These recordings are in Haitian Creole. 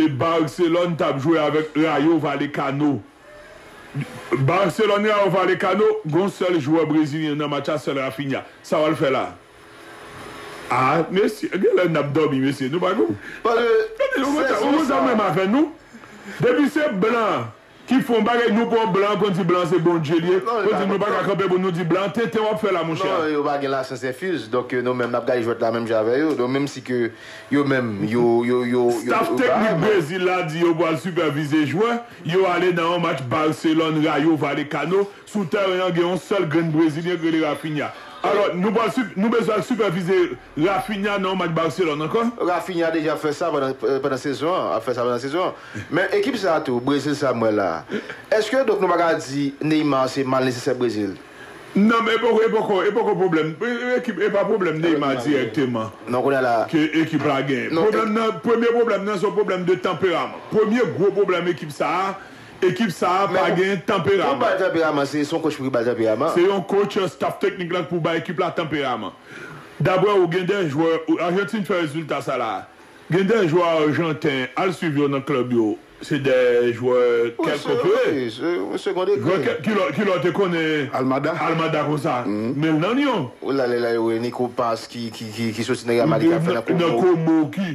E Barcelone tap jwe avèk Rayo Valekano. Barcelone Rayo Valekano gon sèl jwè brezilyen nan match la sèl Raphinha. Sa wal fè la? Ah mesye genlè nap dòmi mesye nou pa konprann. Ou konn sa menm avè nou? Depi se blan Ki fon bagay nou pran blan konn di blan se bondye li ye konn di nou paka kanpe pou nou di blan tenten wap fè la monchè. Non yo pa gen la science infuse donc nou menm nap gade jwèt la menm jan avè yo donc menm si ke yo menm yo yo yo yo Staff teknik Brezil la di yo pwal sipèvize jwè yo ale nan yon match Barcelone Rayo Vallecano Sou tèren an gen yon sèl grenn brezilyen ki rele Raphinha. Alò, nou pral nou bezwen al sipèvize Raphinha nan yon match Barcelone ankò? Raphinha deja ap fè sa pandan pandan sezon an, ap fè sa pandan sezon an. Men ekip sa a tou, Brezil sa a m wè la a. Èske donk nou pa ka di Neymar se mal nesesè Brezil? Non men e poko e poko e poko pwoblèm ekip e pa pwoblèm Neymar dirèkteman Non kounye a la a. ke ekip la genyen. Pwoblèm nan premye pwoblèm nan se yon pwoblèm de tanperaman. Premye gwo pwoblèm ekip sa a Ekip sa a pa gen tanperaman. Se yon kotch pou ki ba l tanperaman? Se yon kotch staf teknik la k pou ba ekip la tanperaman. Daprè ou gen de jwè Ajantin fè rezilta sa la a. Gen de jwè ajanten al swiv yo nan klèb yo se de jwè kèlke pre. Jwè ki lè w te konnen Almada konsa men l nan Lyon. Nan Komo ki.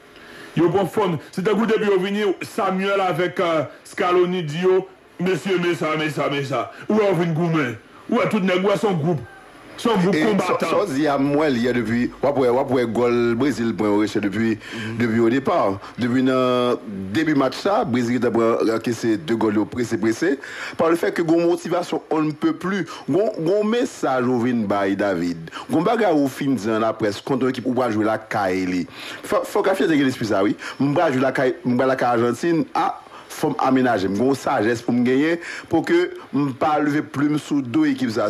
Yo pran fòm. Se tankou depi yo vini Samuel avèk Scaloni di yo, mesye men sa, men sa, men sa. Ou wè yo vin goumen. Ou wè tout nèg, ou wè se yon gwoup. Se yon gwoup konbatan. Sa w di a m wè l yè depi, w ap wè, w ap wè gòl Brezil pran yo rese depi, depi o depa. Depi nan debi match sa, Brezil gentan pran, ankese 2 gòl yo prese, prese. Par le fait que gen yon motivasyon on ne peut plus. Gon, gon yon mesaj ou vin bay David. Gon bagay ou fin di an laprès kontre yon ekip ou pral jwe lakay li. Fok rafina te gen lespri sa wi m pral jwe lakay m pral lakay ajantin ah fom amenajem gon sajes poum genyen pouki m pa leve plum sou do ekip sa.